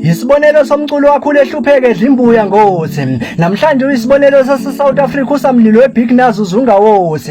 Isibonelo somculo wakho lehlupheke edla imbuya ngothi. Namhlanje uyisibonelo sase-South Africa usamlilo weBig Nazo uzungawothi.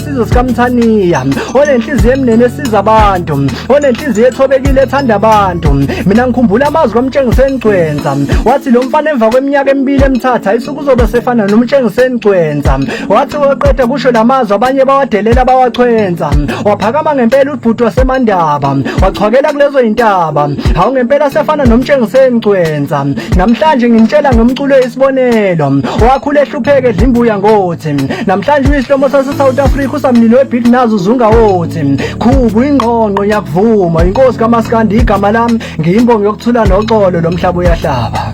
isizwe sikamthaniya onenhliziyo emnene esiza abantu onenhliziyo ethobekile ethanda abantu mina ngikhumbula amazwi kamtshengiseni gcwenza wathi lo mfana emva kweminyaka emibili emthatha isuku uzobe sefana nomtshengiseni gcwenza wathi weqeda kusho la mazwi abanye bawadelela bawachwenza waphakama ngempela ubhuti wasemandaba wachwakela kulezo yintaba hawu ngempela sefana nomtshengiseni gcwenza namhlanje ngimtshela ngomculo isibonelo owakhula ehlupheke edlimbuya ngo namhlanje isihlomo sase-south africa usamnini webhidi nazo zungawothi khubu ingqongqo ngiyakuvuma inkosi kamaskandi igama lami ngiyimbongo yokuthula noxolo lo mhlaba uyahlaba